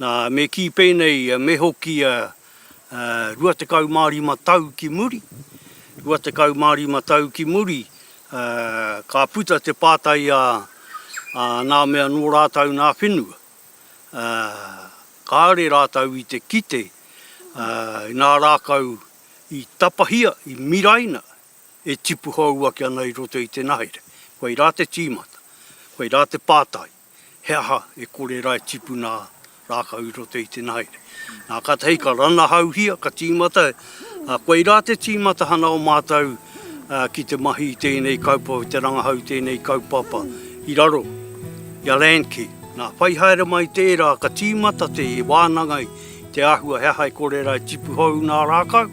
Nā, me kī pēnei, me hoki 25 tau ki muri, 25 tau ki muri, ka puta te pātai a nā mea nō rātau nā whenua, kāore rātau i te kite i nā rākau i tapahia, i miraina e tipu hou ake ana i roto i te nahere. Koirā te tīmata, koirā te pātai. he aha e kore ra e tipuna rakau i roto i te nahaere. Na katahi ka ranahauhia, ka timata, a koe ra te timatahana o matou ki te mahi i tenei kaupapa, te rangahau i tenei kaupapa i raro i a Landcare. Na whai haere mai tera ka timata te wananga i te ahua he aha e kore ra e tipu hou na rakau,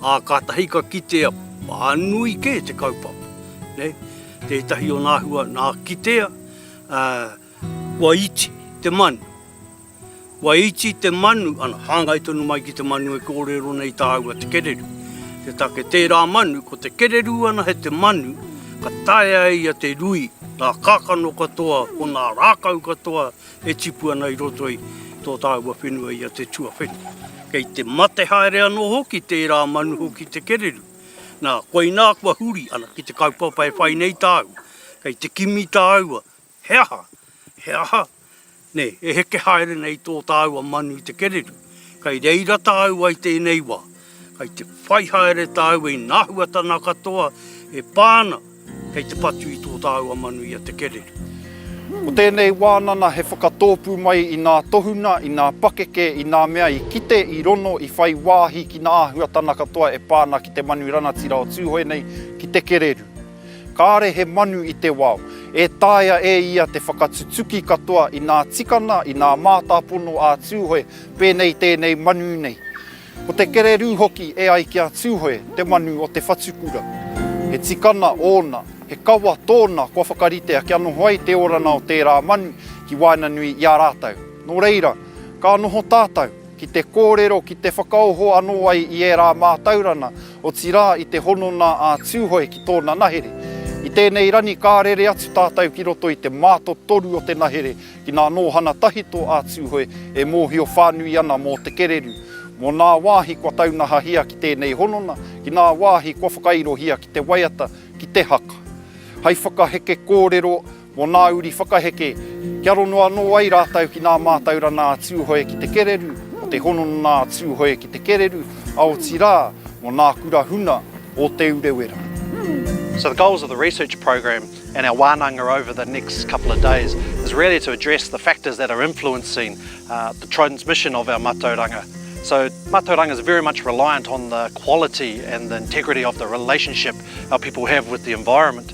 a katahi ka kitea whanui ke te kaupapa, nei, tetahi ona ahua na kitea, Kua iti te manu. Kua iti te manu, ana, hāngai tonu mai ki te manu e kōrero nei tāua te kereru. Te take tērā manu, ko te kereru ana he te manu ka taea e ia te rui ngā kākano katoa o ngā rākau katoa e tipu ana i roto i tō tāua whenua i a te tuawhenua. Kei te mate haere anō hoki tērā manu hoki te kereru. Nā, koinā kua huri, ana, ki te kaupapa e whai nei tāua, Kei te kimi tāua, he aha, he aha, nei, e heke haere nei tō tāua manu i te kererū. Kei reira tāua i tēnei wā, kei te whai haere tāua i ngā huatana katoa e pā ana kei te patu i tō tāua manu i a te kererū. Ko tēnei wānana he whakatōpū mai i ngā tohunga, i ngā pakeke, i ngā mea i kite, i rono, i whai wāhi ki ngā āhuatana katoa e pā ana ki te manu rangatira o Tūhoe nei, ki te kererū. Kāre he manu i te wao, e taea e ia te whakatutuki katoa i nā tikana, i nā mātāpono ā Tūhoe, pēnei tēnei manu nei. Ko te kererū hoki e ai ki a Tūhoe te manu o te whatukura. He tikana ōna, he kawa tōna kua whakaritea kia noho ai te oranga o tērā manu ki waenganui i a rātou. Nō reira, ka noho tātou ki te kōrero, ki te whakaoho anō ai i ērā mātauranga Otirā, i te hononga a Tūhoe ki tōna nahere. I tēnei rangi ka rere atu tātou ki roto i te mātotoru o te nahere ki ngā nōhana tahito a Tūhoe e mōhio whānui ana mō te kererū, mō ngā wāhi kua taunahahia ki tēnei hononga, ki ngā wāhi kua whakairohia ki te waiata, ki te haka. Hai whakaheke kōrero Mō nā uri whakaheke, kia rongo anō ai rātou ki nā mātauranga a Tūhoe ki te Kereru, o te hononga a Tūhoe ki te Kereru, a otirā, mō nā kura huna o Te Urewera. So the goals of the research program and our wānanga over the next couple of days is really to address the factors that are influencing uh, the transmission of our matauranga. So matauranga is very much reliant on the quality and the integrity of the relationship our people have with the environment.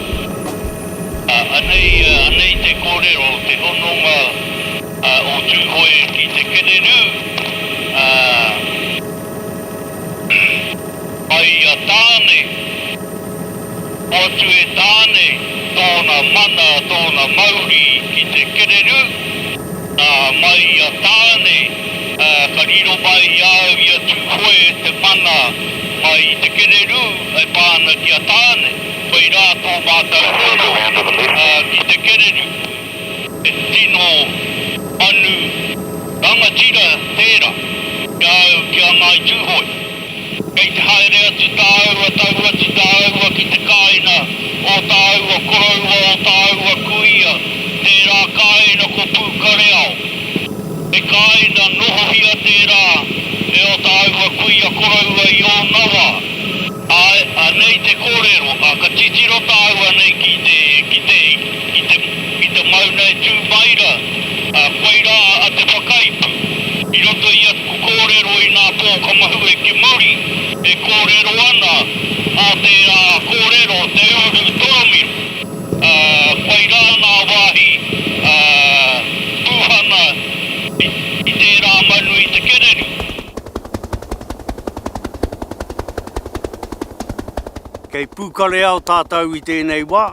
Ā, anei, anei te kōrero, te hononga o Tūhoe ki te kererū, ā, mai i a Tāne, hoatu e Tāne tōna mana, tōna mauri ki te kererū, ā, mai i a Tāne, ā, ka riro mai i a au i a Tūhoe te mana mai i te kererū e pā ana ki a Tāne. Whai rā tō mātou roro ki te kererū, he tino manu rangatira tērā ki a au ki a Ngāi Tūhoe. Kei te haere atu tāua, tau atu tāua ki te kāina o tāua koroua, o tāua kuia, tērā kāina ko Pūkareao. He kāina nohohia tērā e ō tāua kuia koroua i ōna wā. Āe, anei te kōrero, ā, ka titiro tāua nei ki te, ki te, ki te, ki te mauna e tū mai rā, ā, koirā a te whakaipu. I roto i aku kōrero i nā pōkamahu e kimuri, e kōrero ana, mō tērā kōrero te ūru toromiro, ā, koirā ngā wāhi, ā, pūhana i, i tērā manu i te kererū. Kei Pūkareao tātou i tēnei wā.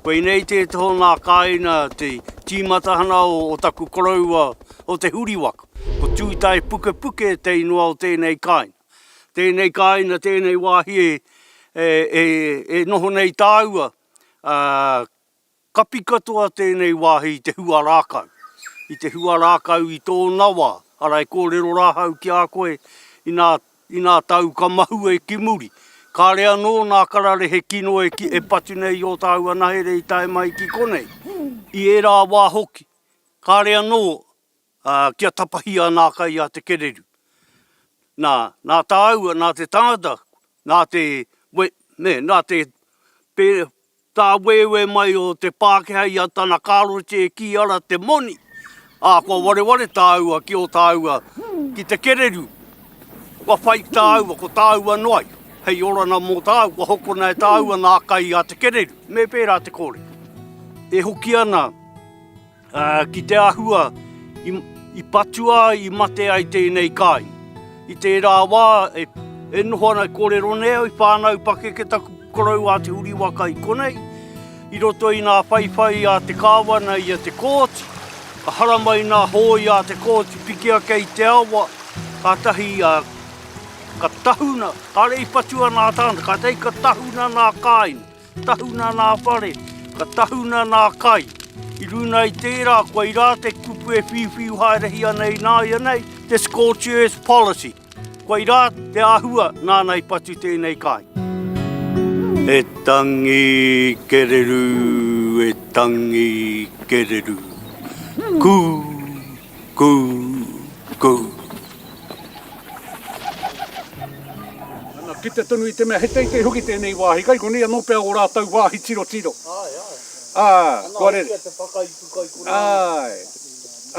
Koinei te tohu ngā kāina te tīmatahana o taku koroua o Te Huriwaka. Ko Tūtaepukepuke te ingoa o tēnei kāina. Tēnei kāina, tēnei wāhi e noho nei tāua Kapi katoa tēnei wāhi i te huarākau, i te huarākau i tōna wā, arā e kōrero rā hau ki a koe inā, inā tāu ka mahue ki muri, kāre anō nā kararehe kino e ki, e patu nei i ō tāu anahere i tae mai ki konei, i ērā wā hoki, kāre anō. Ā, kia tapahia ana a kai a te kereru. Nā, nā tāua, nā te tangata, nā te, we, nē, nā te, pē, tā wēwē mai o te Pākehā i a tana kārote e kī ara te moni, ā, kua wareware tāua ki ō tāua, ki te kereru, kua whai ki tāua, ko tāua noa ai, hei oranga mō tāua, kua hokona e tāua nā kai a te kereru. Me pērā te kōrero. E hoki ana. Ki te āhua i patua ai, i mate ai tēnei kāinga. I tērā wā e noho ana, e kōrero nei au i whānau pakeke taku koroua a Te Huriwaka i konei, i roto i ngā whaiwhai a te kāwana i a Te Kooti, ka haramai ngā hōia a Te Kooti pikia kei te awa, kātahi ka tahuna, kāre i patua nā tāna, kātahi ka tahuna nā kāinga. Tahuna nā whare, ka tahuna nā kai. I runa i tērā, koai rā te kupu e whiuwhiu haerehi ana ināianei, te scorched earth policy. Koai rā te āhua nāna i patu tēnei kai. E tangi kererū, e tangi kererū, kū! Kou! Kou! Ana, kite tonu i te mea he teitei hoki tēnei wāhi kai konei anō pea ō rātou wāhi tirotiro. Āe, āe. Ā, kua rere. Ana, hoki a te whakaipu kai konei. Āe.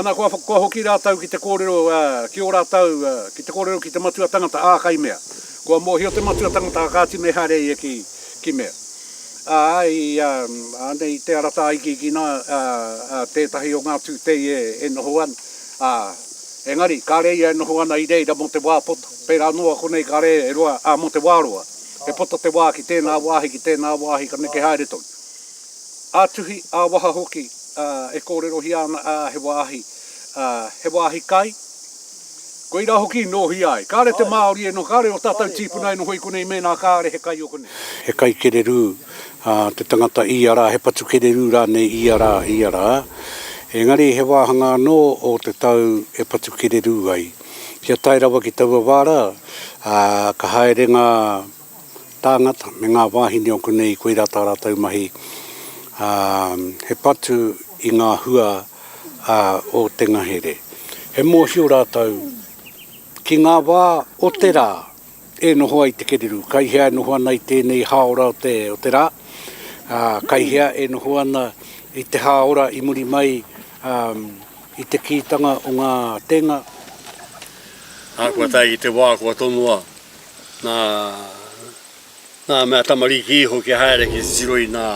Ana, kua, kua hoki rātou ki te kōrero, ā, ki ō rātou, ā, ki te kōrero ki te matua tangata, ā, kai mea. Kua mōhio te matua tangata, ā, kāti mehāre ia ki, ki mea. Ā, i, ānei i te ara tāikiiki nā, ā, tētahi o ngā tūtei e, e noho ana, ā, engari, kāre ia e noho ana i reira mō te wā poto, pērā noa konei kāre e roa, ā, mō te wā roa, e poto te wā ki tēnā wāhi, ki tēnā wāhi, ka neke haere tonu. Ā-tuhi, ā-waha hoki, ā, e kōrerohia ana, ā, he wāhi, ā, he wāhi kai, Koirā hoki i nōhia ai. Kāre te Māori e noho, kāre ō tātou tīpuna e noho i konei mēnā kāre he kai o konei. He kai kererū te tangata ia rā, he patu kererū rānei ia rā, ia rā. Engari he wāhanga anō o te tau e patu kererū ai. Kia tae rawa ki taua wā rā, ka haere ngā. tāngata me ngā wāhine o konei koirā tā rātou mahi, ā, he patu i ngā hua o te ngahere. He mōhio rātou ki ngā wā o te rā e noho ai te kereru, kai hea e noho ana i tēnei hāora o te, o te rā, ā, kai hea e noho ana i te hāora i muri mai, ā, i te kītanga o ngā tēnga. Ahakoa tae ki te wā kua tonoa Nā, nā mea tamariki iho kia haere ki te tiro i nā,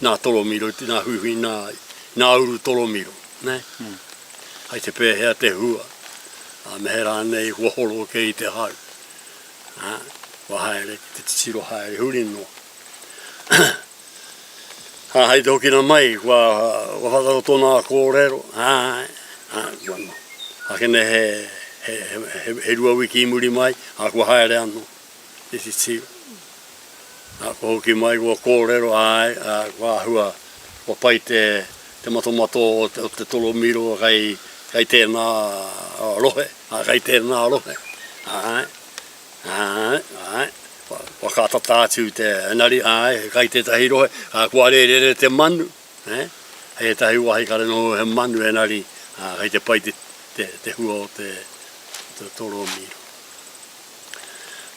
nā tolomiro, i nā huihui, nā, i nā uru tolomiro, nē. Mm. Hai te pēhea te hua, ā, me he rānei kua horo kē i te hau. Ā, kua haere ki te tiro haere huri noa. Ā, hei te hokina mai, kua, kua whakarato nā kōrero, ā, ā, kua noho. Ā, kē nei he, he, he, he rua wiki i muri mai, ā, kua haere anō te titiro. Ā, kua hoki mai, kua kōrero, āe, ā, kua āhua, kua pai te, te matomato o te, o te tolomiro kei, kei tēnā rohe, ā, kei tēnā rohe, āe. Āe, āe. Whakaatata atu te nari, āe, kai tētahi rohe, ā, kua rērere te manu, ē, hei ētahi wāhi kare noho he manu e nari, ā, kei te pai te hua o te torōmiro.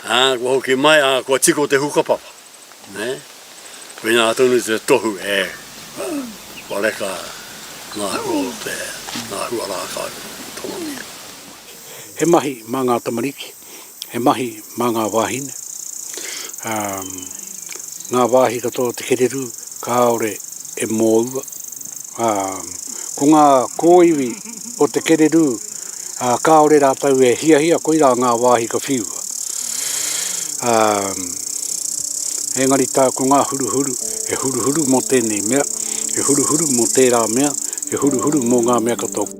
Ā, kua hoki mai, ā, kua tiko te hukapapa. Nē, koinā tonu te tohu e whareka ngā hua o te, ngā hua rākau tōmia. He mahi mā ngā tamariki, he mahi mā ngā wāhine, ā, ngā wāhi katoa o te kererū kāore e mōua, ā, ko ngā kōiwi. o te kererū, ā, kāore rātou e hiahia koirā ngā wāhi ka whiua. Ā, engari tā ko ngā huruhuru, he huruhuru mō tēnei mea, he huruhuru mō tērā mea, he huruhuru mō ngā mea katoa.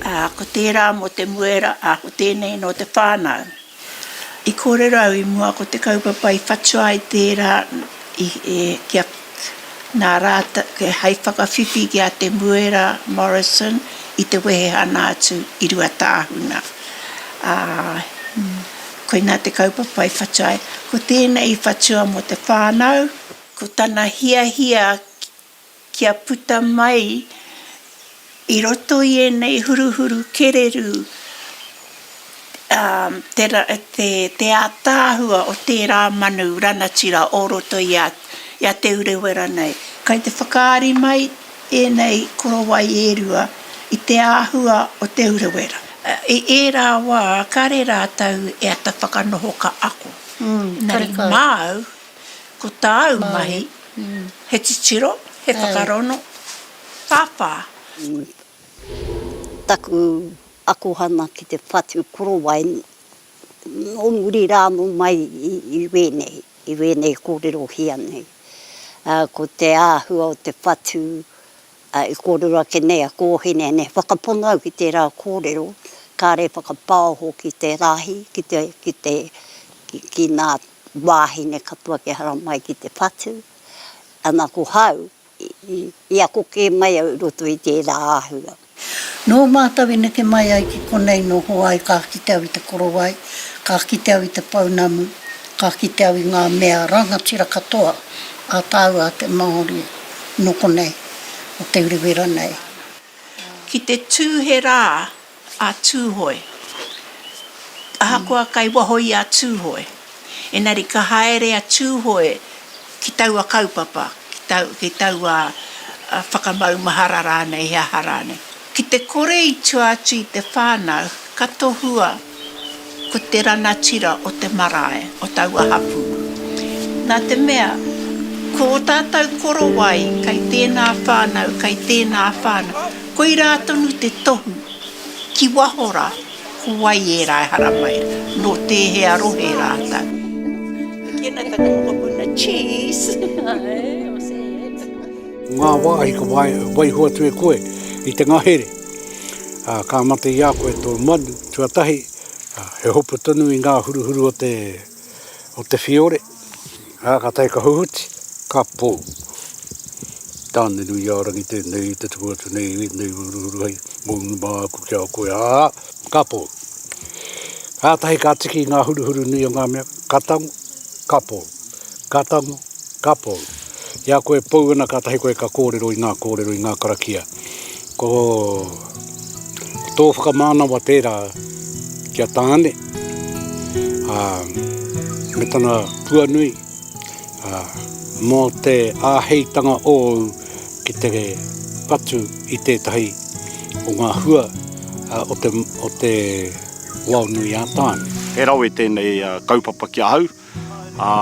Ā, ko tērā mō te muera, ā, ko tēnei nō te whānau. I kōrero au i mua ko te kaupapa i whatua ai tērā i, e, kia, nā rātou, kia hei whakawhiwhi ki a Te Muera Morrison i te wehehana atu i Ruatāhuna. Ā, koinā te kaupapa i whatua ai. Ko tēnei i whatua mō te whānau, ko tana hiahia kia puta mai i roto i ēnei huruhuru kererū te ātaahua o tērā manu ranatira o roto i a Te Urewera nei. Kei te whakaari mai ēnei korowai e rua i te āhua o Te Urewera. I ērā wā, kāre rātou e ata whakanoho ka ako. Engari māu. Ko tāu mahi, he titiro, he whakarono, pāpā. Taku akohanga ki te whatu korowai, nō muri rānō mai i wēnei, i wēnei kōrerohia nei. Ko te āhua o te whatu, i kōrero ake nei a Kōhine nei, whakapono au ki tērā kōrero, kāre whakapaoho ki te rahi, ki te, ki te, ki nā wāhine katoa kia haramai ki te whatu, ana ko hau, i ako kē mai au i roto i tērā āhua. Nō mātou i neke mai ai ki konei nō Hoai ka kite au i te korowai, ka kite au i te pounamu, ka kite au i ngā mea rangatira katoa a tāua a te Māori nō konei, o te urewera nei. Ki te tū he rā a Tūhoe. Ahakoa kei waho i a Tūhoe, engari ka haere a Tūhoe ki taua kaupapa, ki taua whakamaumahara rānei, he aha rānei. Ki te kore i tua atu i te whānau, ka tohua. ko te rangatira o te marae o taua hapū. Nā te mea, ko ō tātou korowai kei tēnā whānau, kei tēnā whānau, koirā tonu te tohu, ki waho rā, ko wai ērā e haramai, nō tēhea rohe rātou. Tēnā taku mokopuna Cheese! Ngā wāhi ka waiho atu e koe i te ngahere, ā, ka mate i a koe tō manu. Tuatahi, he hopu tonu i ngā huruhuru o te, o te whiore, ā, ka tae ka huhuti, ka pō. Tāne-nui-ā-rangi tēnei i te tuku atu nei i ēnei huruhuru hei mounga māku ki a koe, ā, ka pō. Kātahi ka tiki i ngā huruhuru nui o ngā mea, ka tango, ka pō, ka tango, ka pō. I a koe e pou ana kātahi koe ka kōrero i ngā kōrero, i ngā karakia. Ko tō whakamānawa tērā ki a Tāne, ā, me tana tuanui, ā, mō te āheitanga ōu ki te patu i tētahi o ngā hua o te, o te wao nui a Tāne. He rawe tēnei kaupapa ki ahau. Ā,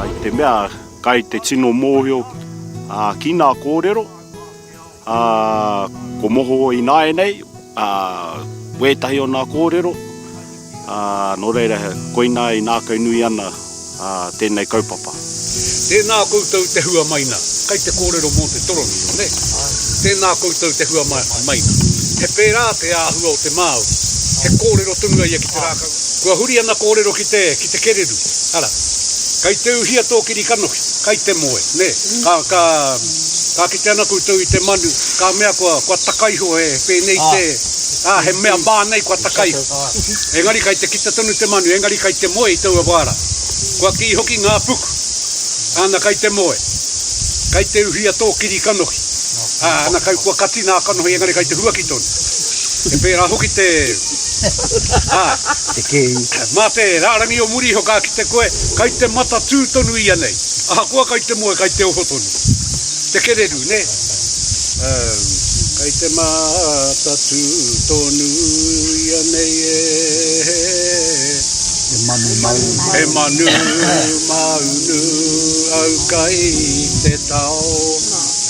i te mea kai te tino mōhio ki ngā kōrero, ā, ko moho ināianei wētahi o ngā kōrero, ā, nō reira, koinā i ngākaunui ana tēnei kaupapa. Tēnā koutou te hua mai nā. Kai te kōrero mō te toroniro, nē? Tēnā koutou te hua mai nā. He pērā te āhua o te Māori, he kōrero tonu ia ki te rākau. Kua huri ana kōrero ki te, ki te kereru, ara. Kei te uhia tō kiri kanohi, kai te moe, nē. Ka, ka, ka kite ana koutou i te manu, ka mea kua, kua taka iho he, he pēnei te, ā, he mea mā nei kua taka iho. Engari kei te kite tonu te manu, engari kei te moe i taua wā rā. Kua kī hoki ngā puku, ana kei te moe, kei te uhia tō kiri kanohi, ā, ana kei, kua kati nā kanohi engari kei te huaki tonu. He pērā hoki te. Ā, te kēhi. Mā te rārangi o muri iho ka kite koe, kai te matatū tonu ianei, ahakoa kai te moe, kai te oho tonu. Te kererū, nē? Kai te matatū tonu ianei e. He manu maunu. He manu maunu au kai te tao.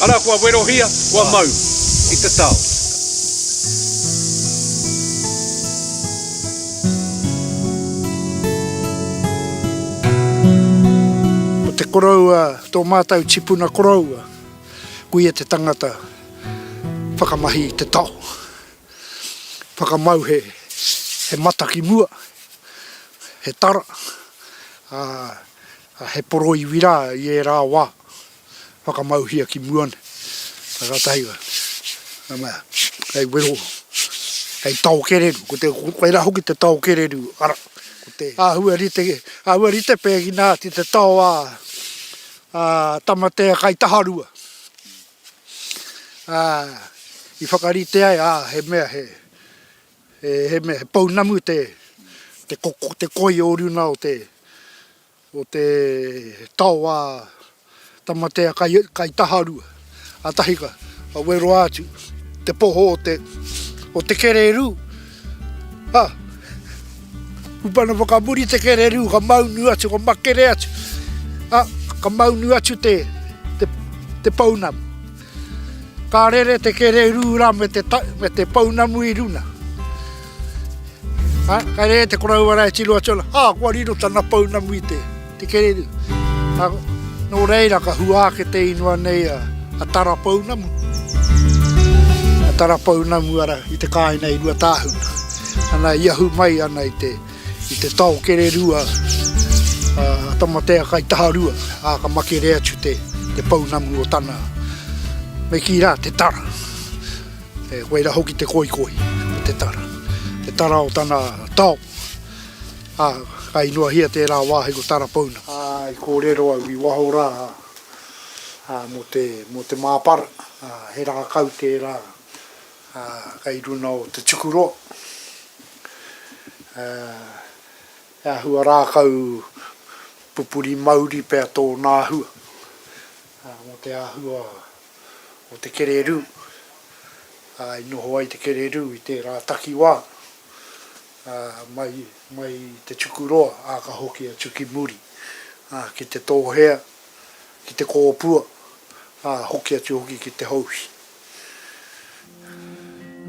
Arā, kua werohia, kua mau i te tao. Ko te koroua tō mātou tipuna koroua, koia te tangata whakamahi i te taho, whakamau he mata ki mua, he tara, ā, he poroiwi rā i ērā wā. whakamauhia ki mua nei, ka ratahi wa, nga mea, kei wero, kei tao kereru, ko te, ko era hoki te tao kereru, ara, ko te ahua rite, ahua rite pegina ati te tao a, a Tamatea kai Taharua, a, i whakarite ai, a, he mea he, he mea he pounamu te, te koko, te koi o runa o te, o te taoa Tamatea kai Taharua, a Tahika, a Weroa atu, te poho o te, o te kererū, ha, upana whakamuri te kererū, ka maunu atu, ka makere atu, ha, ka maunu atu te, te, te pounamu. Ka rere te kererūra me te me te pounamu i runa. Ha, ka rere te koroua rā e tiro atu ana, ha, kua riro tana pounamu i te, te kererū. Ha, nō reira ka hua ake te inua nei a, a Tara Pounamu, a Tara Pounamu ara i te kāinga i Ruatāhuna. Ana i ahu mai ana i te. I te tao kererua a Tamatea kai Taharua, a ka makere atu te pounamu o tana, me ki ra, te tara. E koe ra hoki te koikoi o te tara. Te tara o tana tao, a ka inoahia tera wahi ko tara pounamu. A i korero au i waho ra, a mo te, mo te mapara, a he rakau tera. Ā, kei runa o te tuku roa, ā, he āhua rākau pupuri mauri pea tōna āhua, ā, mō te āhua o te kererū, ā, i noho ai te kererū i tērā takiwā, ā, mai, mai i te tuku roa, ā, ka hoki atu ki muri, ā, ki te tōhea, ki te kōpua, ā, hoki atu hoki ki te houhi.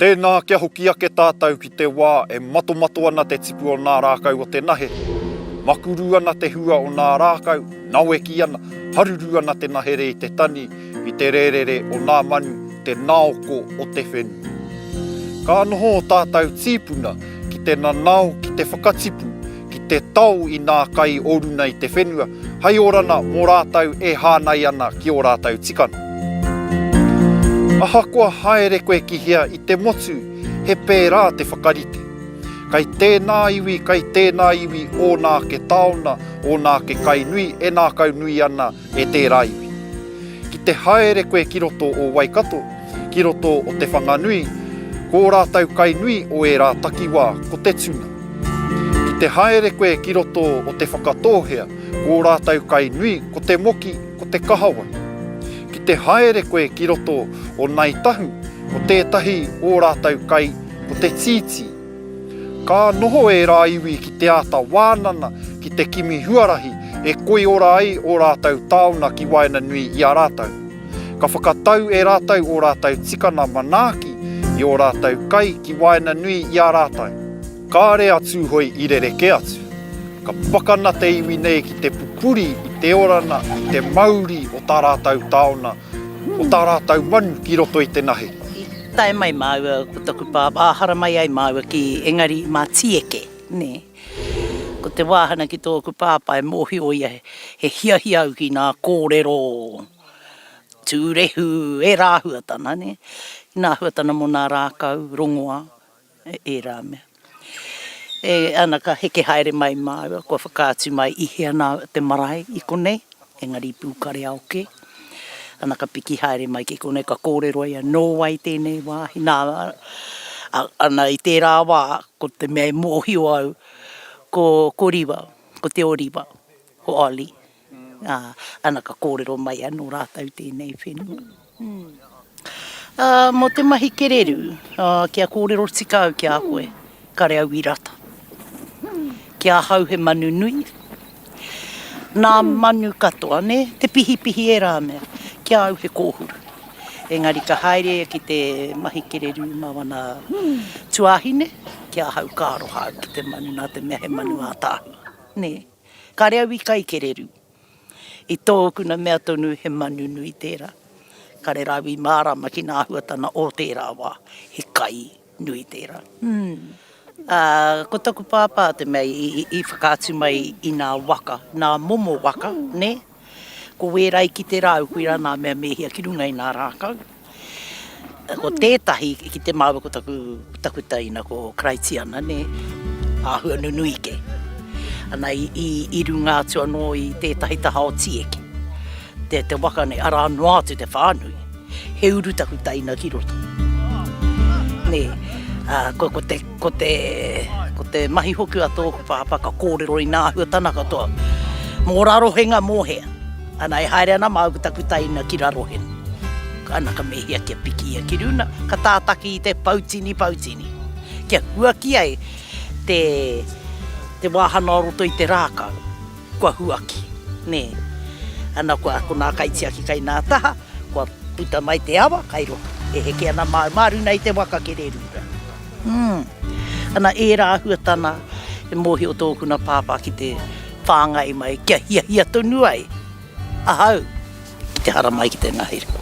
Tēnā, kia hoki ake tātou ki te wā e matomato ana te tipu o nā rākau o te nahe, makuru ana te hua o nā rākau, naweki ana, haruru ana te nahere i te tani, i te rērere o nā manu, te naoko o te whenua. Ka noho ō tātou tīpuna ki te nanao ki te whakatipu ki te tao i nā kai o runa i te whenua, hai orana mo rātou e hānai ana ki o rātou tikana. Ahakoa haere koe ki hea i te motu, he pērā te whakarite. Kai tēnā iwi, kai tēnā iwi ōna ake taona, ōna ake kai nui e nākau nui ana E tērā iwi. Ki te haere koe ki roto o Waikato, ki roto o Te Whanganui, ko ō rātou kai nui o ērā takiwā ko te tuna. Ki te haere koe ki roto o Te Whakatōhea, ko ō rātou kai nui ko te moki, ko te kahawai. Ki te haere koe ki roto o Ngāi Tahu, ko tētahi ō rātou kai ko te tītī. Ka noho ērā iwi ki te āta wānanga ki te kimi huarahi e koiora ai ō rātou taona ki waenganui i a rātou. Ka whakatau e rātou ō rātou tikanga manaaki i ō rātou kai ki waenganui i a rātou. Kāre a Tūhoe i rerekē atu. Ka pakana te iwi nei ki te pupuri i te oranga, i te mauri o tā rātou taona O tā rātou manu ki roto i te nahe. I tae mai māua ko taku pāpā, ā, haramai ai māua ki Engari mā Tīeke, nē. Ko te wāhana ki tōku pāpā e mōhio ia he hiahia au ki ngā kōrero tūrehu, e rāhuatana, nē. Nā huatana mō ngā rākau, rongoā. Ērā mea. E ana ka heke haere mai māua, kua whakaatu mai i hea nā te marae i konei, engari i Pūkareao kē. Ana ka piki haere mai ki konei, ka kōrero ia, nō wai tēnei wāhi, nā, ana i tērā wā, ko te mea e mōhio au, ko, ko Riwa, ko Te Oriwa, ko Ollie. Ā, ana ka kōrero mai anō rātou tēnei whenua. Ā, mō te mahi kererū, ā, kia kōrero tika au ki a koe, kare au i rata. Ki ahau he manu nui, nā manu katoa, nē, te pihipihi ērā mea, ki a au he kōhuru. Engari ka haere ki te mahi kererū mā wana tuāhine, ki ahau ka aroha au ki te manu nā te mea he manu ātaahua, nē. Kare au i kaikererū. I tōkuna mea tonu he manu nui tērā. Kare rāua i mārāma ki nā huatana o tērā wā, he kai nui tērā. Ā, ko taku pāpā te mea i whakaatu mai i nā waka, nā momo waka, nē? Ko wēra i kite rāu, koirā nā mea me hia ki runga i nā rākau. Ko tētahi i kite māua ko taku, taku taina, ko Karaitiana, nē, āhua nunui kē. Ana i, i, i runga atu anō i tētahi taha o Tieki, te, te waka nei, arā noa atu te whānui. He uru taku taina ki roto. Nē, uh, ko, ko te Ko te, ko te mahi hoki a tōku pāpā ka kōrero inā āhuatana katoa, mō Rarohenga mō hea. Ana e haere ana māu ki taku taina ki Rarohenga. Ana ka mehia kia piki ia ki runa, ka tātaki i te pautini pautini. Kia huaki ai te, te wāhana o roto i te rākau. Kua huaki, nē. Ana kua, ko nā kaitiaki kai nā taha, kua puta mai te awa kai roto. E heke ana māu, māru nei te waka kererūra. Umm. Ana ērā ahuatana e mōhio tōku nā Pāpā ki te whāngai mai kia hiahia tonu ai ahau. Te haramai ki te ngahere.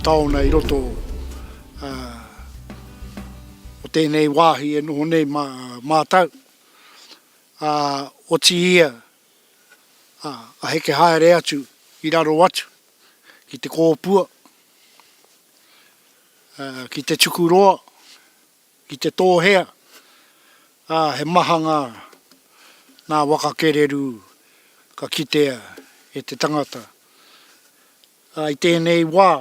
taona i roto uh, o tēnei wāhi e noho nei mā, mātau. Uh, o ti ia ā, ka heke haere atu ki raro atu ki te kōpua, ā, ki te tuku roa, ki te tōhea, ā, he maha ngā, ngā waka kererū ka kitea e te tangata. Ā, i tēnei wā,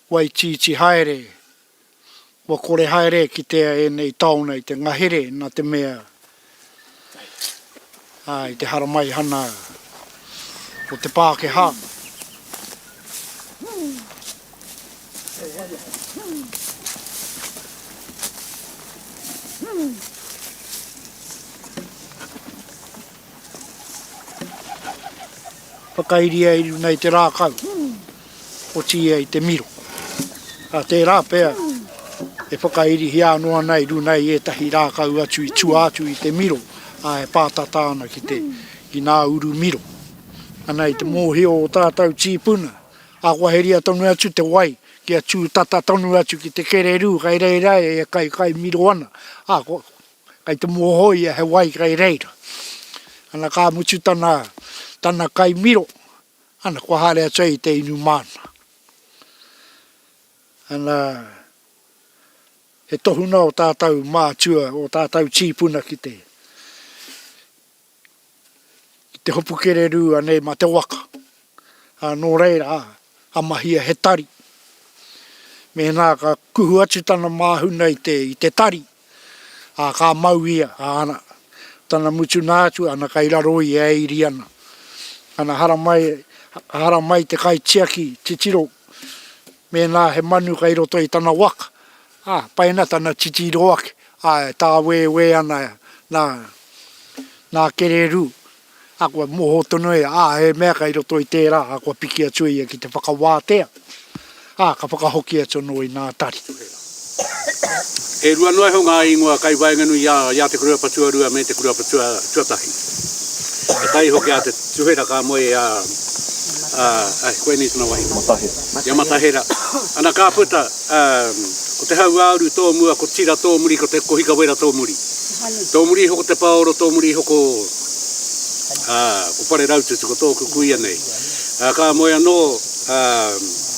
Waitiiti haere, kua kore haere e kitea ēnei taona i te ngahere nā te mea, ā, i te haramaihana o te Pākehā, Whakairia i runga i te rākau, otiia i te miro. Ā, tērā pea e whakairihia anō ana i runga i ētahi rākau atu i tua atu i te miro, ā, e pātata ana ki te, ki ngā uru miro. Ana i te mōhio o ō tātou tīpuna, awaheria tonu atu te wai kia tū tata tonu atu ki te kererū kei reira e kaikai miro ana, ā, ko, Kai te mua hoia he wai kai reira. Ana ka mutu tana tana kai miro ana kua haere atu ai te inu mana. Ana he tohuna o tatou matua o tatou tipuna ki te i te hopu kererū anei mā te waka. Ā, nō reira, a mahia he tari. Mēnā ka kuhu atu tana māhuna i te, i te tari, ā, ka mau ia, ā, ana, tana mutunā atu, ana kai raro i e iri ana. Ana, haramai, haramai te kaitiaki titiro, mēnā he manu kai roto i tana waka, Ā, pai ana tana titiro ake, ā, e tāwēwē ana nā, nā Kererū, ā, kua moho tonu ia, ā, he mea kai roto i tērā, ā, kua piki atu ia ki te whakawātea, ā, ka whakahoki atu anō inā tari. E rua noa iho ngā ingoa kai waenganui i a, i a te kura patuarua me te kura patua, tuatahi. E tai iho ki a te Tuhera ka moe i a, a, a, koinei tana wahine. Matahera. I a Matahera. Ana ka puta. Ā, ko te hauāuru tō mua, ko Tira tō muri, ko te Kohika Wera tō muri. Tō muri iho ko Te Paoro, tō muri iho ko, ā, ko Pareraututu, ko tōku kuia nei. Ā, ka moe anō, ā,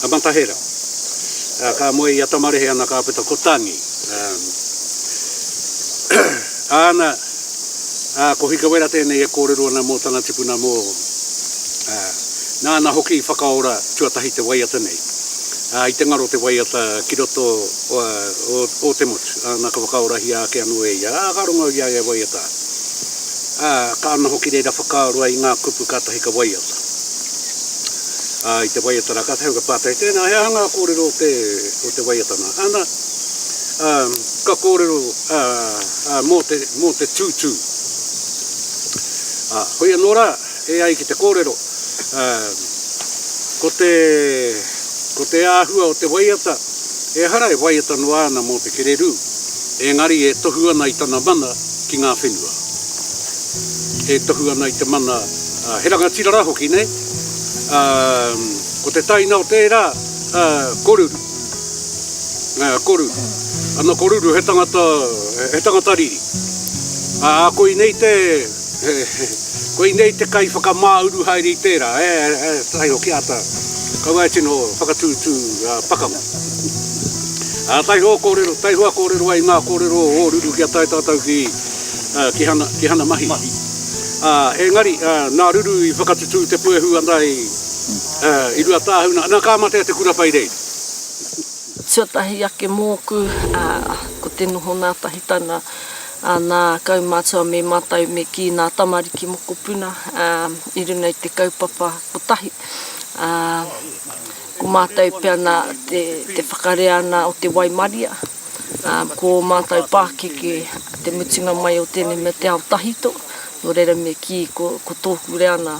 a Matahera. Ā, ka moe i a Tamarehe ana kāpeta, ko Tangi. Ā, āna. Ā, ko Hikawera tēnei e kōrero ana mō tana tipuna mō, ā, nāna hoki i whakaora tuatahi te waiata nei, ā, i te ngaro te waiata ki roto o, ā, o, o te motu, ā, nā ka whakaorahia ake anō e ia, ā, ka rongo i a ia e waiata ana. Ā, ka ana hoki reira whakaaro ai i ngā kupu kātahi ka waiata. Ā, i te waiata rā, kātahi au ka pātai, tēnā, he aha ngā kōrero o te, o te waiata nā? Ana, ā, ka kōrero, ā, Ā, mō te, mō te tūtū. Ā, hoi anō rā, e ai ki te kōrero, ā, ko te, ko te āhua o te waiata, ehara e waiata noa ana mō te kererū, engari e tohu ana i tana mana ki ngā whenua. E tohu ana i te mana, ā, he rangatira rā hoki, nei? Ā, ko te taina o tērā, ā, koruru. Ā, koru. Ana koruru he tangata, he tangata riri. Ā, koinei te, koinei te kai whakamāuru haere i tērā, e, e, taiho ki āta, kaua e tino whakatūtū pakanga. Ā, taiho kōrero, taiho a kōrero ai ngā kōrero o Ōruru kia tae tātou ki, ki Hana, ki Hana Mahi. Ā, engari, nā Ruru i whakatutū te puehu ana i. I Ruatāhuna, nā, ka mate a Te Kura Pai Rei. Tuatahi ake mōku, ko te noho ngātahitanga, nā, kaumātua me mātou me kī ngā tamariki mokopuna i runga i te kaupapa kotahi. Ko mātou pea nā te whakarea ana o te waimaria, ko ō mātou pākeke te mutunga mai o tēnei mea te ao tahito, nō reira me kī ko tōku reanga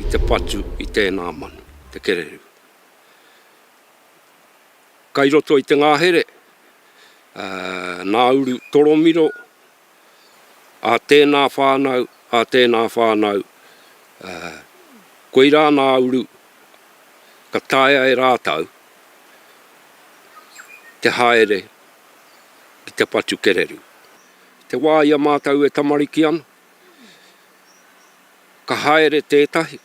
I te patu i tēnā manu, te kererū. Kai roto i te ngahere, Nauru Toromiro, a tēnā whānau, a tēnā whānau, koirā Nauru, ka taea e rātou te haere ki te patu kererū. Te wā ia mātou e tamariki ana, Ka haere tētahi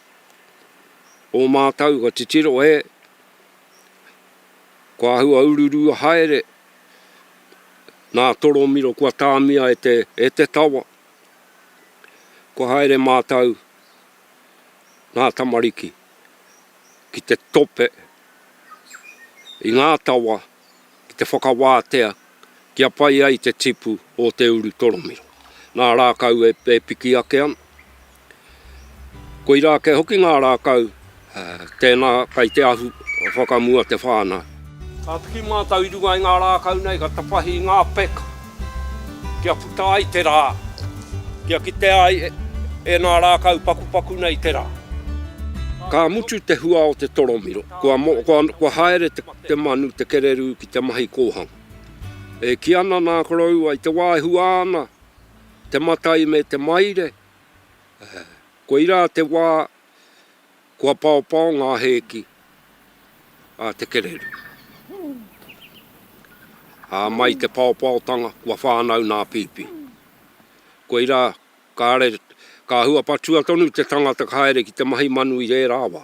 o mātou ka titiro e, kua ahua ururua haere nā Toromiro kua tāmia e te, e te tawa. Kua haere mātou nā tamariki ki te tope i ngā tawa. ki te whakawātea kia pai ai te tipu o te uru toromiro. Nā rākau e piki ake ana. Koirā kē hoki ngā rākau, tēnā kai te ahu whakamua te whānau. Ka piki mātou i runga i ngā rākau nei ka tapahi i ngā peka kia puta ai te rā, kia kitea ai e nā rākau pakupaku nei te rā. Ka mutu te hua o te toromiro, kua haere te Te manu, te kererū ki te mahi kōhanga. E kī ana nā koroua i te wā e hua ana te matai me te maire, koirā te wā kua paopao ngā hēki a te kererū. Ā, mai te paopaotanga kua whānau nā pīpī. Koirā, kāre, ka hua patua tonu te tangata ka haere ki te mahi manu i rērā wā.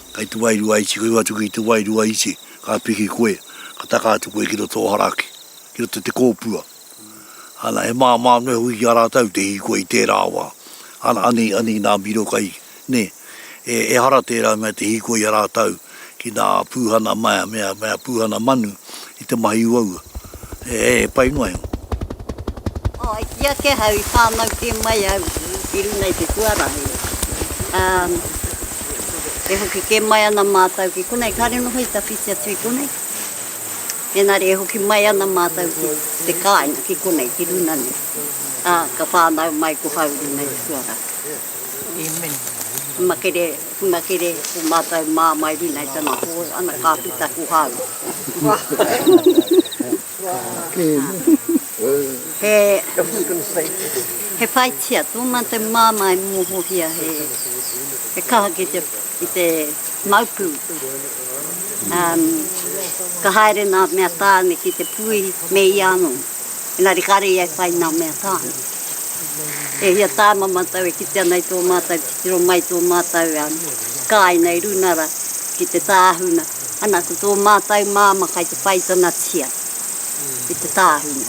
Kei te wairua iti, kei watu ki te wairua iti, ka piki koe, ka taka atu koe ki roto o Haraki, ki roto te kōpua. Ana, he māmā noa hoki ki a rātou te hikoa i tērā wā. Ana, anei, anei nā Miro kai, nē, e, ehara tērā mea te hikoa i a rātou ki nā pūhana mea, mea, mea pūhana manu, i te mahi uaua, e pai noa iho. Oh, i ki ake hau, i whānau kē mai au i runa i te huarahi. Um, e hoki kē mai ana mātou ki konei, kāre noho i tawhiti atu i konei. Engari e hoki mai ana mātou ki te kāinga, ki konei, ki runa nei. Uh, ka whānau mai ko hau runa i te huarahi. Amen. Makere. Puna kere ko matou maa mai rina i tana hoe ana ka pita ko hau. He whaitia to matou mama e mohohia he kaha ki te mau pu. Ka haere naa mea taane ki te puihi me ia ano. Engari kāre ia e whai ngā mea tāna. E hia tāna mātou e kite ana i tō mātou titiro mai tō mātou kāinga i Runara ki te tāhuna, ana ko tō mātou māmā kai te whai tanatia i te tāhuna.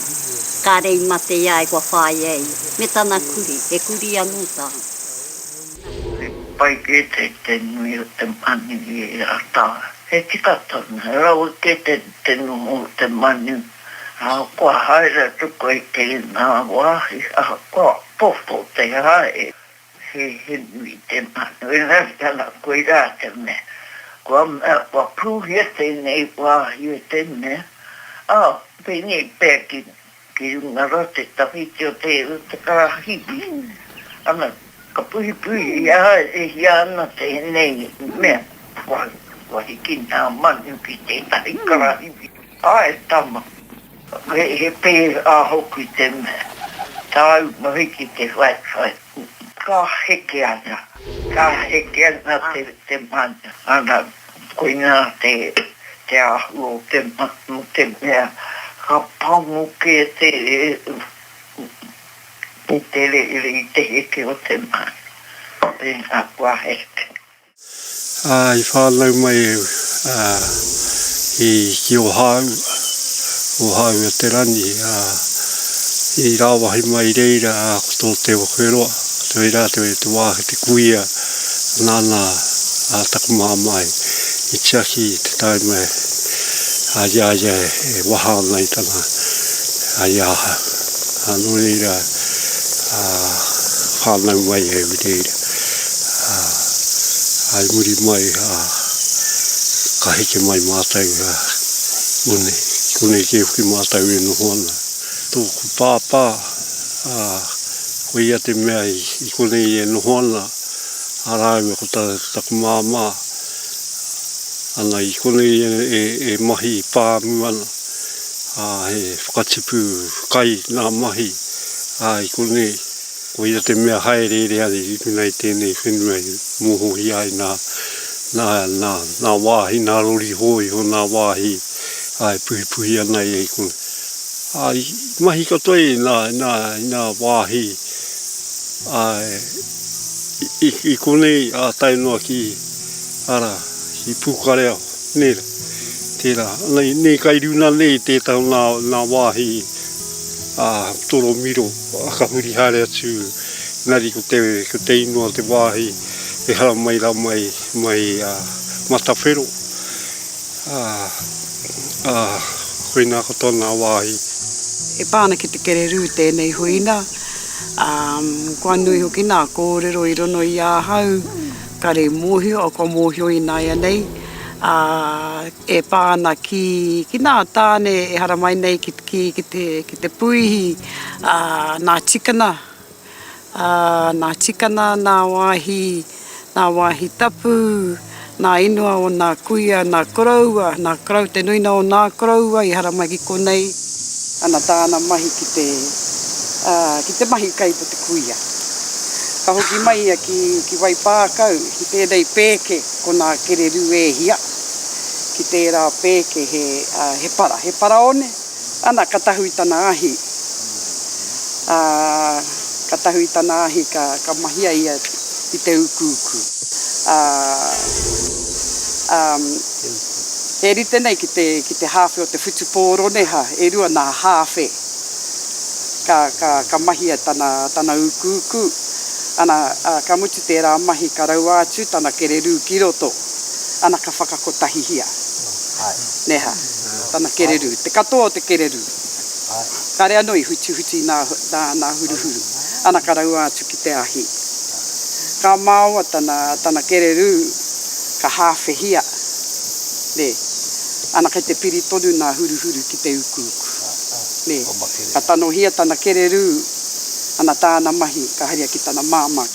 Kāre i mate ia ai kua whāia ia, me tana kurī, he kurī anō tāna. He pai kē te nui o te manu i ērā tau. He tika tonu, he rawe kē te noho o te manu Ā, kua haere atu koe i tēnā wāhi ahakoa pōpō te hae, he hinu i te manu, engari ana koirā te mea, kua mea, kua pūhia tēnei wāhi e te mea, ā, pēnei pea ki, ki runga rā te tawhiti o te, o te karahipi, ana, ka puhipuhia haerehia ana tēnei mea, kua, kua hiki ngā manu ki tētahi karahipi. Ae tama, he pērā hoki te mea, tāu mahi ki te whaiwhai, ka heke ana, ka heke ana te mana, ana, koinā te āhua o te mana, o te mea, ka pango kē te rere i te heke o te mana, tēnā koa heke. I whānau mai au ki Ōhāu, Ōhāu o Te Rangi, i rāwahi mai i reira ko tō Te Whewheroa, whai rātou i te wāhi, te kuia, nāna taku māmā i tiaki i te taima a ia e waha ana i tana, i ahau. Nō reira, whānau mai au i reira. Ā, i muri mai, ā, ka heke mai mātou, ā, konei, konei kē hoki mātou e noho ana. Tōku pāpā, ā, ko ia te mea i, i konei e noho ana, ā rāua ko ta, taku māmā, ana, i konei e, e, e mahi pāmu ana, ā, he whakatipu kai nā mahi, ā, i konei. Koia te mea haereere a te tipuna i tēnei whenua i mohohia ai nā, nā, nā, nā wāhi, nā rori hōiho, nā wāhi e puhipuhi ana i konā. Ā, i mahi katoa i nā, i nā, i nā wāhi, ā, i, i konei ā tae noa ki, arā, ki Pūkareao, nē, tērā. Nei, nei kai runa nei tētahi o nā, nā wāhi, ā, toromiro. Ka huri haere atu engari ko te ko te ingoa te wāhi e haramai ra mai mai a Matawhero a a koina ko tona wāhi. E pa ana ki te kererū tēnei huina, ā, kua nui hoki nā kōrero i rono i ahau, kare i mōhio, kua mōhio ināianei, ā, e pa ana ki, ki nā tāne e haramai nei ki, ki, ki te, ki te puihi, ā, nā Tikana, ā, nā Tikana nā wāhi, nā wāhi tapu, nā ingoa o nā kuia, nā koroua, nā korou, te nuina o nā koroua i haramai ki konei. Ana tāna mahi ki te, ā, ki te mahi kai mō te kuia. Ka hoki mai ia ki, ki Waipākau, ki tēnei pēke, ko nā Kererū e hia, ki tērā pēke he, ā, he para, he paraone. Ana, ka tahu i tana ahi. Ā, ka tahu i tana ahi ka, ka mahia ia i te ukuuku. Ā, ā, e rite nei ki te, ki te hāwhe o te whutupō roneha, e rua nā hāwhe. Ka, ka, ka mahia tana, tana ukuuku. Ana, ā, ka mutu tērā mahi ka raua atu tana kererū ki roto. Ana, ka whakakotahihia. Neha, tana kererū, te katoa o te kererū. Kāre anō i hutihuti nā nā huruhuru, ana ka raua atu ki te ahi. Ka maoa tana tana kererū, ka hāwhehia, nē, ana kei te piri tonu nā huruhuru ki te ukuuku. Nē, ka tanohia tana kererū, ana tāna mahi ka haria ki tana māmā.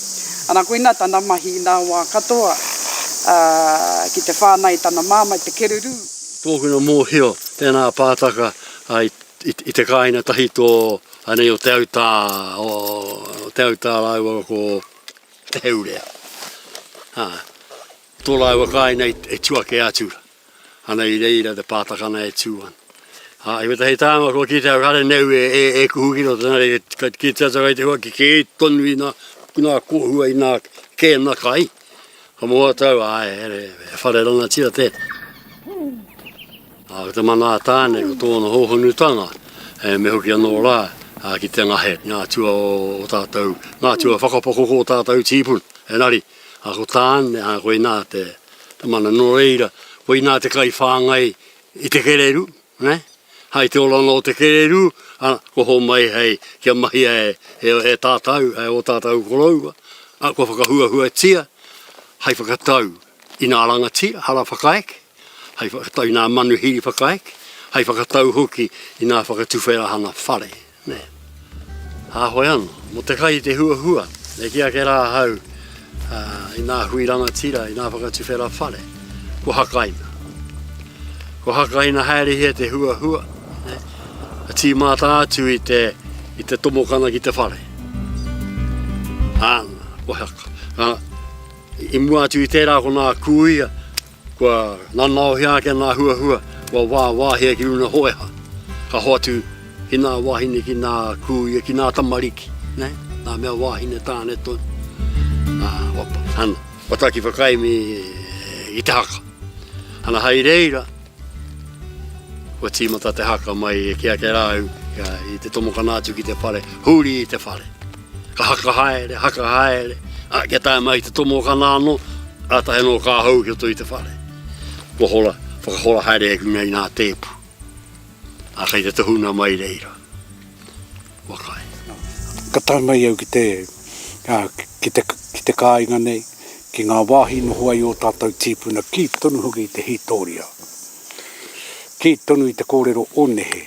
Ana koina tana mahi i nā wā katoa, ā, ki te whānā i tana māmā, i te kererū. Tōkina mōhio, tēnā pātaka, ā, i te kāinga tahi tō, anei o Te Autā, o Te Autā rāua ko Te Heurea, ā, tō rāua kāinga e tu ake atu. Ana i reira te pātakana e tū ana. Ā, i wetahi tānga kua kite au kare neu e, e, e kuhu ki roto nā reira, ka kite atu kai te hua ki kē tonu i nā, i nā kōhua, i nā kēna kai. Ka moho atu au, āe, here, he whare rangatira tēnā. Ā, ko te mana a Tāne, ko tōna hōhonutanga, e, me hoki anō rā, ā, ki te ngahe, ngā atua o, o tātou, ngā atua whakapakoko o tātou tīpuna. Engari, a ko Tāne, ā, koinā te mana. Nō reira, koinā te kaiwhāngai i te kererū, nē? Hai te oranga o te kererū, ā, kua homai hei kia mahia e, e tātau, e ō tātau koroua, ā, kua whakahuahuatia hai whakatau i nā rangatira, hara whakaeke. hai whakatau i nā manuhiri whakaeke, hai whakatau hoki i nā whakatuwherahana whare, nē. Hāhoi anō, mō te kai i te huahua, e kī ake rā ahau, ā, i nā hui rangatira, i nā whakatuwhera whare, kua hakaina. Kua hakaina haerehia te huahua, nē, ka tīmata atu i te, i te tomokana ki te whare. Āna, kua haka. Ā, i mua atu i tērā ko nā kūia, Kua nanaohia ake nā huahua, kua wāwāhia ki ūna hoeha. Ka hoatu ki nā wāhine, ki nā kūia, ki nā tamariki, nē, nā mea wāhine tāne tonu. Ā, kua pa, ana, kua taki whakaemi i te haka. Ana, hai reira, kua tīmata te haka mai e Keakerāu, i te tomokana atu ki te whare, huri i te whare. Ka haka haere, haka haere, a, kia tae mai te tomokana ano, ratahi ano ka hou ki roto i te whare. Kua hora, whakahora haere e kuna i nga tepu. A kei te tohuna mai reira. Kua kai. Ka tae mai au ki te, a, ki te, ki te kāinga nei, ki nga wahi i noho ai o tatou tipuna, ki tonu hoki i te hitoria, ki tonu i te korero o nehe.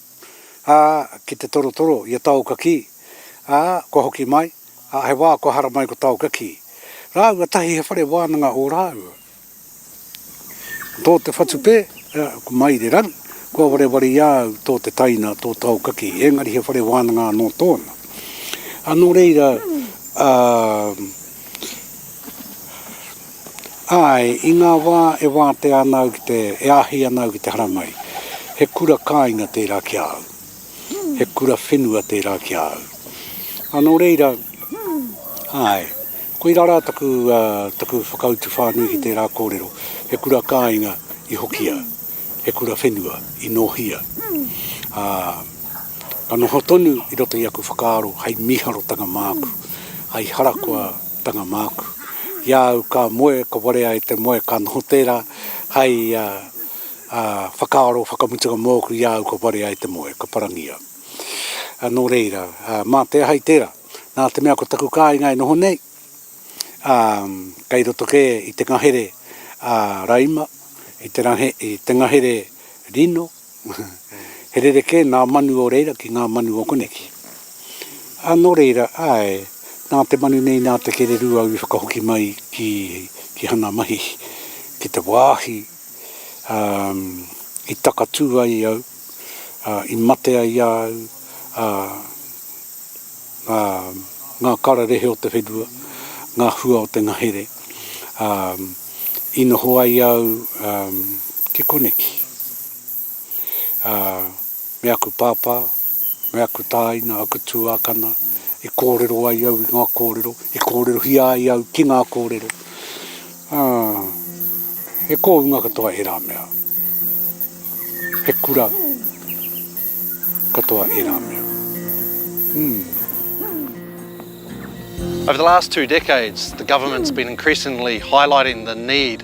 ā, ki te torotoro i a Taokakī, ā, kua hoki mai, ā, he wā kua hara mai ko Taokakī. Rāua tahi he whare wānanga ō rāua. Tō te whatu pē, ā, ko Mairerangi, kua wareware i a au tō te taina, tō Taokakī, engari he whare wānanga anō tōna. Ā, nō reira, ā, Āe, i ngā wā e wātea ana au ki te, e āhei ana au ki te haramai, he kura kāinga tērā ki a au, he kura whenua tērā ki a au. Ā, nō reira, āe, koirā rā taku, taku whakautu whānui ki tērā kōrero, he kura kāinga i hokia, he kura whenua i nōhia. Ā, ka noho tonu i roto i aku whakaaro hei mīharotanga māku, hei harakoa, Tanga māku. Ki a au ka moe, ka warea e te moe, ka noho tērā hai whakaaro, whakamutunga mōku i a au ka warea e te moe, ka parangi au. Nō reira, mā te aha i tērā? Nā te mea ko taku kāinga e noho nei, kei roto kē i te ngahere raima, i te ngahere rino, He rerekē nā manu o reira ki ngā manu o koneki. Ā, nō reira, āe, nā te manu nei, nā te kererū au i whakahoki mai ki, ki Hana Mahihi, ki te wāhi, ā, i takatū ai au, ā, i mate ai a au, ā, ngā, ngā kararehe o te whenua, ngā hua o te ngahere, ā, i noho ai au, ā, ki koneki. ā, me aku pāpā, me aku tāina, aku tuākana, i kōrero ai au i ngā kōrero, i kōrerohia ai au ki ngā kōrero, ā, he kōunga katoa ērā mea, he kura katoa ērā mea. Over the last two decades, the government's been increasingly highlighting the need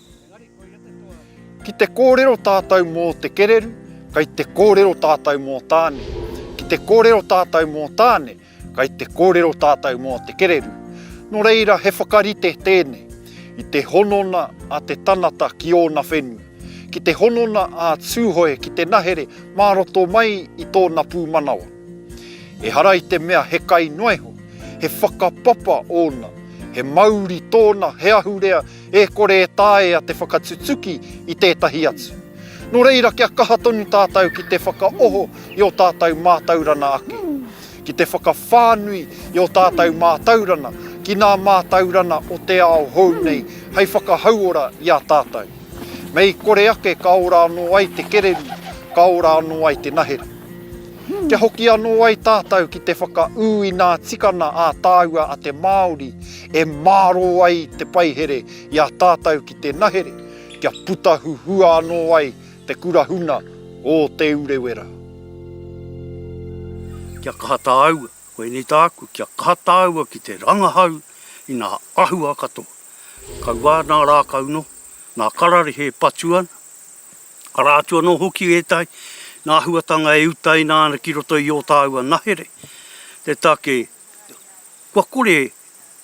Ki te kōrero tātou mō te kereru, kei te kōrero tātou mō Tāne. Ki te kōrero tātou mō Tāne, kei te kōrero tātou mō te kereru. Nō reira he whakarite tēnei, i te honona a te tangata ki ōna whenua, ki te honona a Tūhoe ki te nahere mā roto mai i tōna pūmanawa. Ehara i te mea he kai noa iho, he whakapapa ōna, he mauri tōna, he ahurea e kore e taea te whakatutuki i tētahi atu. Nō reira kia kaha tonu tātou ki te whakaoho i ō tātou mātaurana ake, ki te whakawhānui i ō tātou mātaurana ki ngā mātaurana o te ao hou nei hei whakahauora i a tātou. Mei kore ake ka ora anō ai te kererū, ka ora anō ai te nahera. Kia hoki anō ai tātou ki te whakaū inā tikana ā tāua a te Māori E mārō ai te paihere i a tātau ki te nahere kia puta huhua anō ai te kura huna o Te Urewera. Kia kaha tāua, koinei tāku, kia kaha tāua ki te rangahau i nā āhua katoa. Kaua nā rākau noa, nā kararehe e patu ana, arā atu anō hoki ētahi nā āhuatanga e utaina ana ki roto i ō tāua nahere, te take Kua kore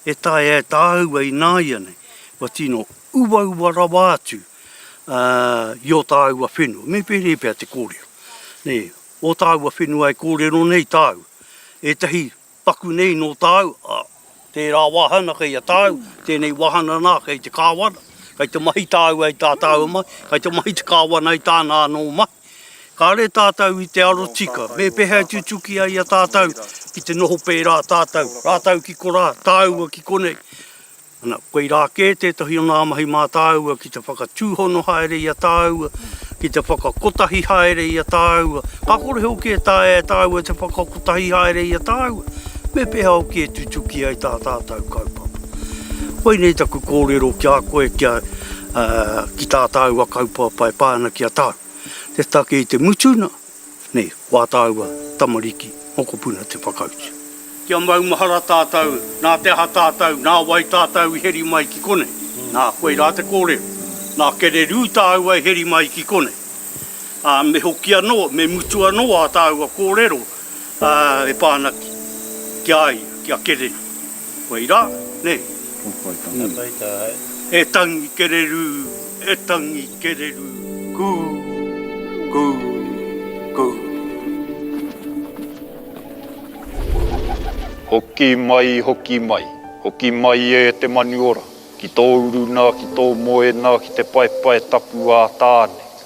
e taea e tāua ināianei kua tino uaua rawa atu i ō tāua whenua, me pēnei pea te kōrero, nē, ō tāua whenua e kōrero nei tāua, ētahi paku nei nō tāu, ā, tērā wāhana kei a tāu, tēnei wāhana nā kei te kāwana, kei te mahi tāua i tā tāua mahi, kei te mahi te kāwana i tāna anō mahi. Kāre tātou i te aro tika me pehea e tutuki ai a tātou ki te noho pērā tātou, rātou ki korā, tāua ki konei. Ana, koirā kē tētahi o ngā mahi mā tāua ki te whakatūhono haere i a tāua, ki te whakakotahi haere i a tāua, ka kore hoki e taea e tāua te whakakotahi haere i a tāua, me pehea hoki e tutuki ai tā tātou kaupapa. Koinei taku kōrero ki a koe kia. Ā, ki tā tāua kaupapa e pā ana ki a tāu, te take i te mutuna, nei, ko ā tāua tamariki mokopuna te whakautu. Kia maumahara tātou, nā te aha tātou, nā wai tātou i heri mai ki konei? Nā, koirā te kōrero. Nā kererū tāua e heri mai ki konei. Ā, me hoki anō, me mutu anō ā tāua kōrero, ā, e pā ana ki a ia, ki a kererū. Whai ra, nei? Ko whai tangata. Ka whai ta hai. E tangi kererū, e tangi kererū. Kū, kū, kū. Hoki mai, hoki mai. Hoki mai e te manu ora. Ki tō uruna, ki tō moena, ki te paepae tapu ā Tāne.